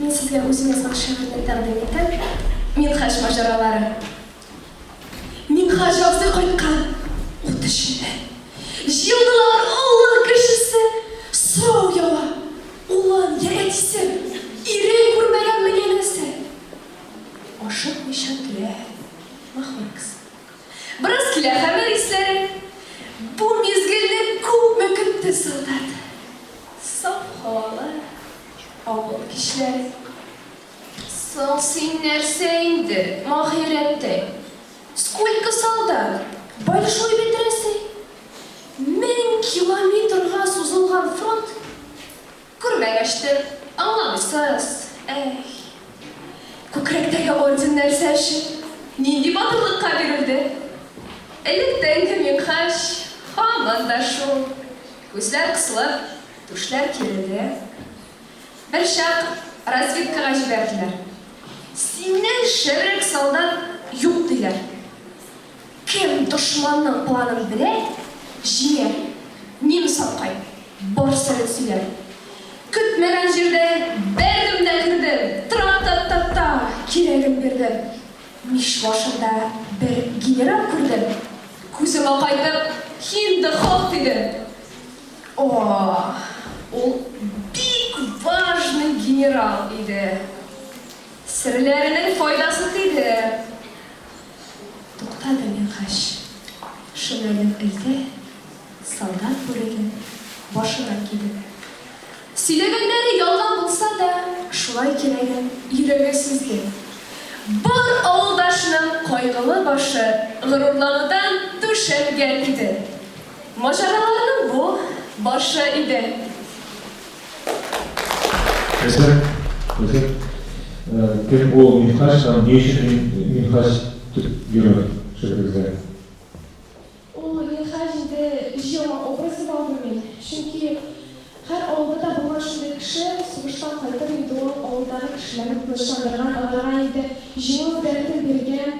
Мин сезгә үзем язган шигырьне тәкъдим итәм, Минһаҗ маҗаралары. Минһаҗ абзый кайткан ут эченнән. Җыелдылар авыл кешесе, сорау ява, Улым, я әтисем, ирен күрмәгәнме янәсе? Ашыкмыйча түлә, махоркасы. Бераз килә хәмер исләре. Бу мизгелне күпме көтте солдат. Саф һавалы авыл кичләре. Соң син нәрсә инде, Маһирәттәй? Сколько солдат? Большой бит Рәсәй. Мең километрга сузылган фронт. Күрмәгәч тә, аңламыйсыз, әй. Күкрәктәге орден нәрсә өчен, нинди батырлыкка бирелде? Электән кем йонткач, һаман да шул. Күзләр кысылып, түшләр киреле. Берчак разведкага җибәрделәр. Синнән шәбрәк солдат юк, диләр. Кем дошманның планын белә, җиңә. Немец апкай, бар сәләт сөйлә. Көтмәгән җирдән бәрдем дә кердем, Тра-та-та-та, кирәген бирдем. Мич башында бер генерал күрдем, Күзем акайтып, Хин-ды-хох дидем. О-о, ул бик важный генерал иде. Серләренең файдасы тиде. Тукта да Минһаҗ. Шулайдыр өйдә солдат бүреген башына кидем. Сөйләгәннәре ялган булса да, шулай кирәген йөрәге сизде. Бар авылдашның кайгылы башы горурланудан түшәлгән иде. Маҗараларның бу, башы иде. Хәзер, хәзер кем ул Минхаҗ һәм ни өчен Минхаҗ дип йөрер шигырегездә? Ул Минхаҗ инде җыелма образы булды мин. Чөнки һәр авылда да булган шундый кеше, сугыштан кайтып инде ул авылдагы кешеләрне тынычландырган, аларга инде җиңү дәртен биргән,